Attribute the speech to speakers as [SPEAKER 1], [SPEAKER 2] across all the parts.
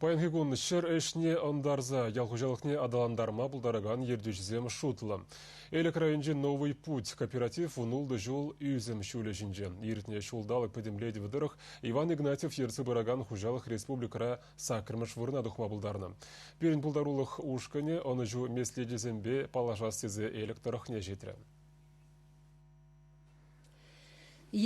[SPEAKER 1] Паянхи кун ҫӗр ӗҫне ӑнтарса ял хуҫалӑхне аталантарма пултаракан ертӳҫӗсем шутлӑ. Элӗк районӗнчи «Новый путь» кооператив вун ултӑ ҫул ӳсӗм ҫулӗ ҫинче. Иртнӗ ҫулталӑк пӗтӗмлетӗвӗ тӑрӑх Иван Игнатьев ертсе пыракан хуҫалӑх республикӑра саккӑрмӗш вырӑна тухма пултарнӑ. Пирӗн пултарулӑх ушкӑнӗ ӑнӑҫу меслечӗсемпе паллашас тесе Элӗк тӑрӑхне ҫитрӗ.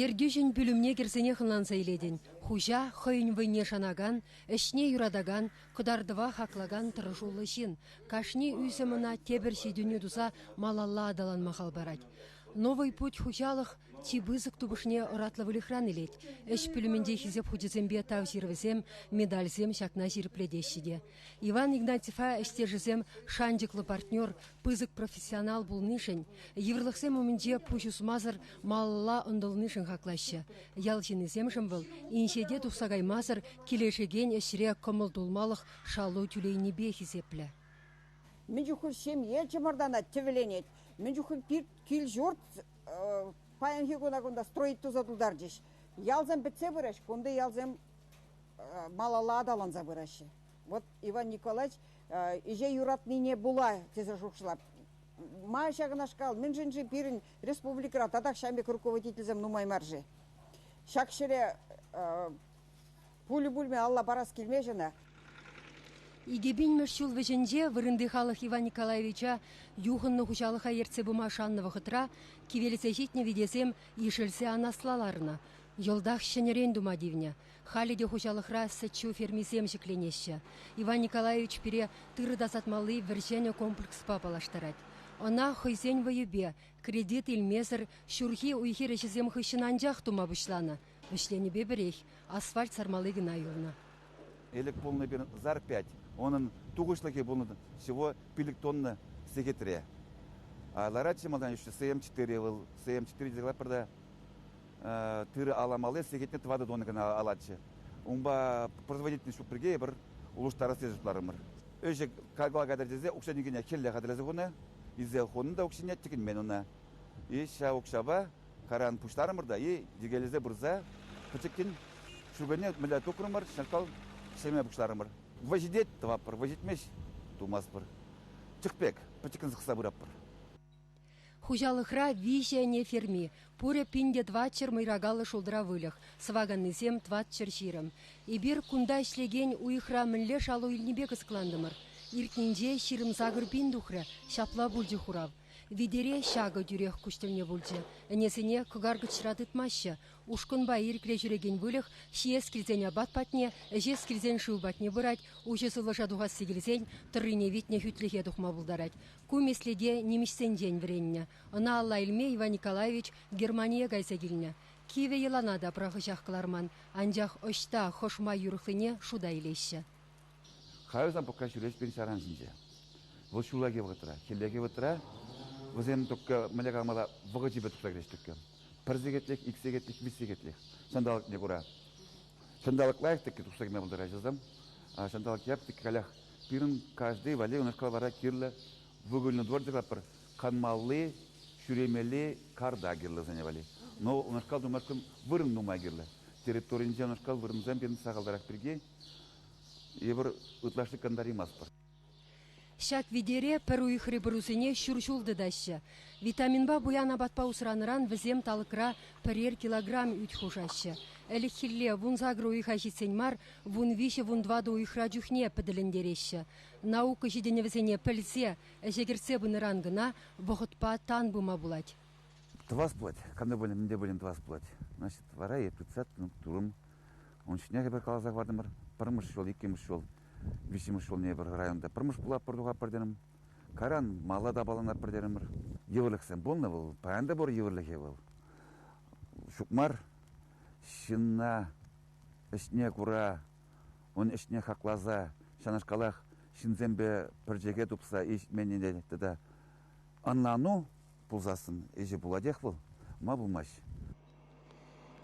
[SPEAKER 2] Ертӳҫӗн пӳлӗмне кӗрсенех ӑнланса илетӗн: хуҫа хӑйӗн вӑйне шанакан, ӗҫне юратакан, кӑтартӑва хаклакан тӑрӑшуллӑ ҫын. кашни ӳсӗм ӑна тепӗр ҫитӗнӳ туса малалла аталанма хал парать. «Новый путь» хуҫалӑх чи пысӑк тупӑшне ӑратлӑ выльӑхран илет. Ӗҫ пӳлӗмӗнче хисеп хучӗсемпе тав ҫырӑвӗсем, медальсем ҫакна ҫирӗплетеҫҫӗ те. Иван Игнатьева ӗҫтешӗсем шанчӑклӑ партнер, пысӑк профессионал пулнишӗн, йывӑрлӑхсем умӗнче пуҫ усмасӑр малалла ӑнтӑлнишӗн хаклаҫҫӗ. Ял ҫыннисемшӗн вӑл инҫете тухса каймасӑр килӗшекен ӗҫре кӑмӑл тулмалӑх шалу тӳлейнипе хисеплӗ. Мӗн
[SPEAKER 3] чухлӗ ҫемье чӑмӑртанать, тӗвӗленет. Мӗн чухлӗ пит кил-ҫурт паянхи куна кунта строить туса тултарчӗҫ. Ялсем пӗтсе пырӗҫ, кунти ялсем малалла аталанса пыраҫҫӗ. Вот Иван Николаевич ӗҫе юратнине пула тесе шухӑшлап. Ма ҫакнашкал? Мӗншӗн-ши пирӗн республикӑра татах ҫамь пек руководительсем нумай мар-ши? Ҫак ҫӗре пулӗ пулмӗ алла парас килмест ӑна.
[SPEAKER 2] Икӗ пинмӗш ҫул вӗҫӗнче вырӑнти халӑх Иван Николаевича юхӑннӑ хуҫалӑха ертсе пыма шаннӑ вӑхӑтра кивелсе ҫитнӗ витесем ишӗлсе анасла ларнӑ. Йӑлтах ҫӗнӗрен тума тивнӗ. Халӗ те хуҫалӑхра сӗт-ҫу фермисем ҫӗкленеҫҫӗ. Иван Николаевич пире тырӑ тасатмалли вӗр-ҫӗнӗ комплекспа паллаштарать. Ӑна хӑйсен вӑйӗпе, кредит илмесӗр ҫурхи уй-хир ӗҫӗсем хыҫҫӑн анчах тума пуҫланӑ. Вӗҫленӗпе пӗрех асфальт сармалли кӑна юлнӑ. Ӗлӗк
[SPEAKER 4] пулнӑ пирӗн ЗАР пять, унӑн тухӑҫлӑхӗ пулнӑ всего пилӗк тонна сехетре. Ларатчӗ малтан еще СМ4, вӑл СМ4 декладперта тырӑ аламалли сехетне тӑватӑ тонна кӑна алатчӗ. Унпа производительность ҫук пирки эпир улӑштарасси шутларӑмӑр. Ӗҫе калла кайтар тесе укҫа-тенкӗне хӗлле хатӗрлесе хунӑ, илсе хунӑ та укҫине тӗкӗнмен унӑ. И ҫав укҫапа каран пуҫларӑмӑр та и йӗкелесе пырса пӗчӗккӗн ҫукӑне мӗнле тупрӑмӑр, ҫакал ҫӗме пуҫларӑмӑр. Вӑй ҫитет тӑватпӑр, вӑй ҫитмест тумастпӑр. Чӑх пек пӗчӗккӗн сӑхса пыратпӑр.
[SPEAKER 2] Хуҫалӑхра виҫӗ ӗне ферми, пурӗ пин те тӑватҫӗр мӑйракаллӑ шултра выльӑх, сӑваканнисем тӑватҫӗр ҫирӗм. Эпир кунта ӗҫлекен уйӑхра мӗнле шалу илнипе кӑсӑклантӑмӑр. Иртнинче ҫирӗм-сакӑр пин тухрӗ, ҫапла пулчӗ хурав. Витере ҫакӑ тӳрех куҫ тӗлне пулчӗ. Ӗнесене кӑкаркӑчра тытмаҫҫӗ. Ушкӑнпа ирӗкре ҫӳрекен выльӑх ҫиес килсен апат патне, ӗҫес килсен шыв патне пырать, уҫӑ сывлӑша тухасси килсен тӑррине витнӗ хӳтлӗхе тухма пултарать. Ку меслете нимӗҫсенчен вӗреннӗ. Ӑна алла илме Иван Николаевич Германие кайса килнӗ. Кивӗ йӑлана та пӑрахӑҫах кӑларман, анчах ӑҫта хӑшма юрӑхлине шута илеҫҫӗ. Кайран
[SPEAKER 4] Пӑкка ҫӳречпен ҫаран синче. Вӑл ҫуллахи вӑхӑтра, хӗллехи вӑтра, вӗсем только мӗнле калмалла вӑхӑчӗпе тухса кӗреҫ только. Пӗр сехетлӗх, ик сехетлӗх, виҫ сехетлӗх ҫанталӑкне кура. Ҫанталӑк лайӑх тӗккӗ тухса кӗме пултарать вӗсем. Ҫанталӑк яп тӗккӗ калях Пирӗн каждый валли унашкал вара кирлӗ выгульный двор тӑратпӑр. Канмалли, ҫӳремелли карта кирлӗ сене валли. Но унашкал тумашкӑн вырӑн нумай кирлӗ. Территоринче унашкал вырӑнсем пирӗн сахалтарах пирки эпир ытлашши кӑнтаримастпӑр. Ҫак
[SPEAKER 2] витере пӗр уйӑхри пӑрусене ҫур ҫул тытаҫҫӗ. Витаминпа пуян апатпа усранӑран вӗсем талӑкра пӗрер килограмм ӳт хушаҫҫӗ. Ӗлӗкхилле вунсакӑр уйӑха ҫитсен мар вун-виҫӗ-вун тӑватӑ уйӑхра чухне пӗтӗлентереҫҫӗ. Наука ҫитӗнӗвӗсене пӗлсе, ӗҫе кӗртсе пынӑран кӑна вӑхӑтпа тан пыма пулать. Тӑвас пулать,
[SPEAKER 4] кам пулин, мӗн те пулин тӑвас пулать. Значит, вара эп тытса турӑм. Ун ҫинчен эпир каласа хӑвартӑмӑр. Пӗрмӗш ҫул, иккӗмӗш ҫул, виҫҫӗмӗш ҫулне эпир районта пӗрмӗш пулатпӑр тухатпӑр терӗм. Каран мала та паланатпӑр терӗмӗр. Йывӑрлӑхсем пулнӑ вӑл. Паян та пур йывӑрлӑхӗ вӑл. Ҫук мар. Ҫынна ӗҫне кура, ун ӗҫне хакласа, ҫакнашкалах ҫынсемпе пӗрчӗке тупса ҫитменнине тата ӑнлану пулсассӑн ӗҫӗ пулатех вӑл, ма
[SPEAKER 2] пулмасть.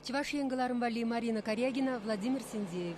[SPEAKER 2] Чӑваш Ен кӑларӑм валли Марина Карягина, Владимир Синдеев.